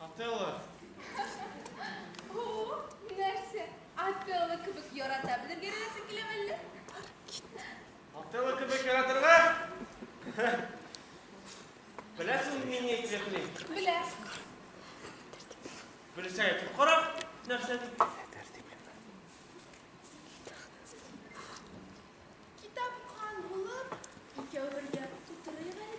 Отелло! О, нәрсә? Отелло кебек ярата белергә өйрәнәсең килә мәллә? Отелло кебек яратырга? Беләсең мин ни әйтәсен? Белә. Белсә әйтеп кара, нәрсә дип. Китапхан булып, икәү бергә утырыйк әле.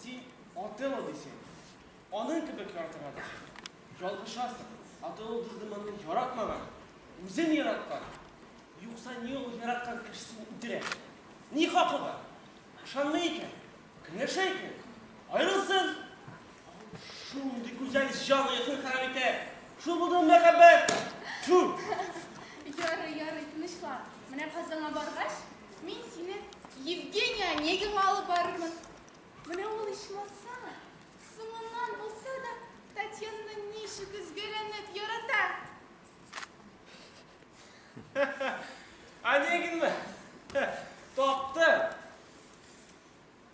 Син атылы дисең. Аның кебек яртыга дисең. Ялгышасың. Атылы дизде моны яратмаган. Үзен яраткан. Юкса ни ул яраткан кешесен үтерә? Ни хакы бар? Ышанмый икән. Көнләшә икән. Аерылсын. Шундый гүзәл җан оясын харап итә. Шул булды мәхәббәт. Тьфу! Ярый, ярый, тынычлан. Менә казанга баргач, Мин сине Евгения Онегинга алып барырмын. Менә ул ичмасам, соңыннан булса да Татьянаны ничек өзгәләнеп ярата. Онегинмы? Тапты.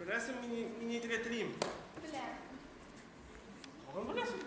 Беләсең, мин мин нитеп ятрим. Беләм. Тагын беләсең?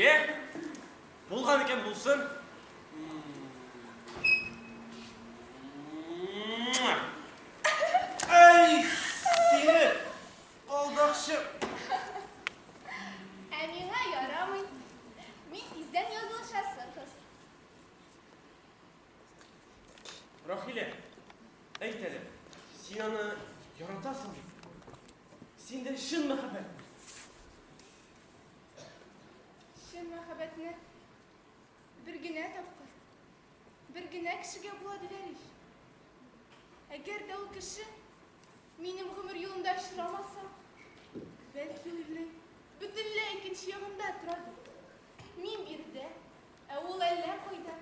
Е, булган икән булсын. Әй, сине, алдакчы. Ә миңа ярамый. Мин тиздән язылышасы кыз. Рахилә, әйт әле, син аны яратасың бит? Синдә чын мәхәббәт. Чын мәхәббәтне бер генә тапкыр, бер генә кешегә була диләр ич. Әгәр дә ул кеше минем гомер юлында очрамаса, бәлки ул илнең бөтенләй икенче ягында торады. Мин биредә, Ә ул әллә кайда.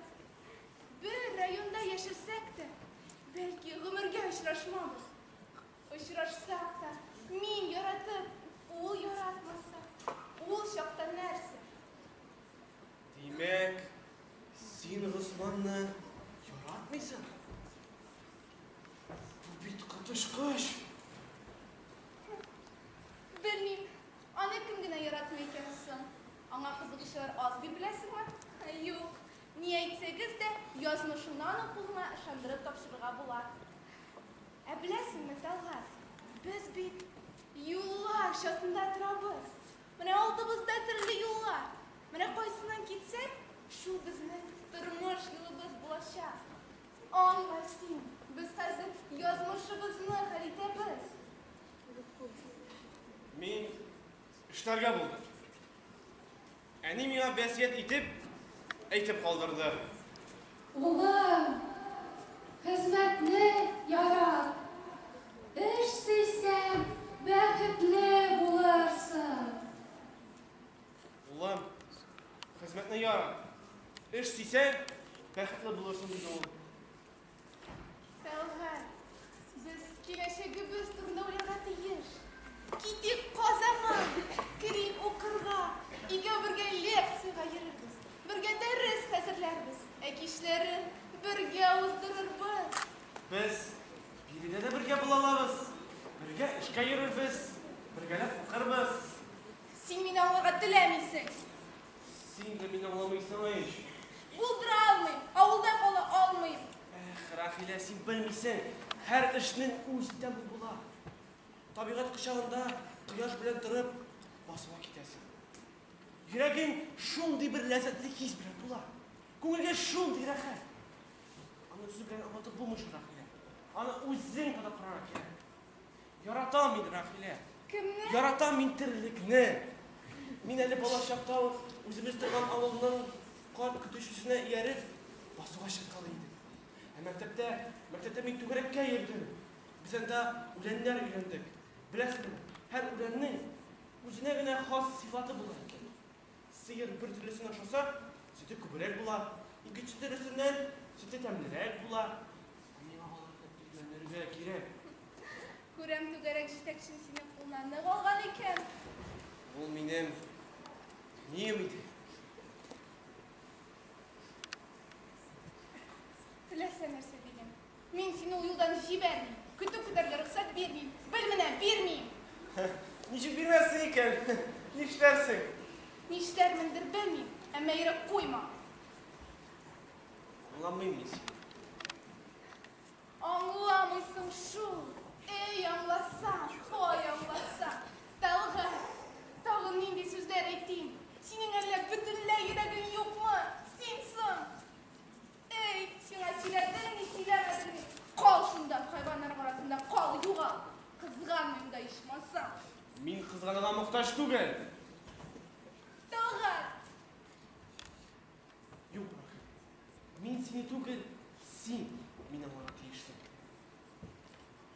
Бер районда яшәсәк тә, бәлки, гомергә очрашмабыз. Очрашсак та, мин яратып, ул яратмаса, ул чакта нәрсә? Димәк, син Госманны яратмыйсың? Бу бит коточкыч! Белмим, Аны кем генә яратмый икән соң? Аңа кызыгучылар аз дип беләсеңме? Юк, ни әйтсәгез дә, язмышымны аның кулына ышандырып тапшырырга була. Ә беләсеңме, Талгат, без бит юллар чатында торабыз. Менә алдыбызда төрле юллар. Менә кайсыннан китсәк, шул безнең тормыш юлыбыз булачак. Аңла син, без хәзер язмышыбызны хәл итәбез. Мин эшләргә булдым. Әни миңа вәсият итеп, әйтеп калдырды. Улым, хезмәтне ярат. Эш сөйсәң, бәхетле булырсың. Улым, хезмәтне ярат. Эш сөйсәң, бәхетле булырсың, диде ул. Сәүгать, без киләчәгебез турында уйларга тиеш. Китик Казанга, керик укырга, өйгә бергә лекциягә йөрербез, бергә дәрес хәзерләрбез, ә кичләрен бергә уздырырбыз. Без биредә дә бергә була алабыз, бергә эшкә йөрербез, бергәләп укырбыз. Син мине аңларга теләмисең. Син дә мине аңламыйсың ич! Булдыра алмыйм, авылда кала алмыйм! Эх, Рәхилә, син белмисең, һәр эшнең үз тәме була. Табигать кочагында кояш белән торып, басыла китәсең. Йөрәгең шундый бер ләззәтле хис белән тула. Күңелгә шундый рәхәт. Аны сүз белән аңлатып булмый шул, Рәхилә. Аны үзең тота карарга кирәк. Яратам мин, Рәхилә. Кемне? Яратам мин терлекне. Мин әле бала чакта ук үзебез торган авылның карт көтүчесенә ияреп, басуга чыккалы идем. Ә мәктәптә, мәктәптә мин түгәрәккә йөрдем. Без анда үләннәр өйрәндек. Беләсеңме, һәр үләннең үзенә генә хас сыйфаты була икән. Сыер бер төрлесен ашаса, сөте күбрәк була, икенче төрлесеннән сөте тәмлерәк була. Миңа алар дип өйрәнергә кирәк. Күрәм, түгәрәк җитәкчең сине кулына нык алган икән. Ул минем нием иде. Теләсә нәрсә дигән. Мин сине ул юлдан җибәрмим, көтү көтәргә рөхсәт бирмим. Бел менә, бирмим! Ничек бирмәссең икән? Нишләрсең? Нишләрмендер, белмим, әмма ирек куймам. Аңламыйм мин сине. Аңламыйсың шул. Әй, аңласаң, һай, аңласаң. Тәлгать, тагын нинди сүзләр әйтим? Синең әллә бөтенләй йөрәгең юкмы? Син соң! Әй, сиңа сөйләдемме, сөйләмәдемме? Кал шунда, хайваннар арасында кал, югал. Кызганмыйм да ичмасам. Мин кызганырга мохтаҗ түгел. Талгат! Юк, Рахим. Мин сине түгел, син мине аңларга тиешсең.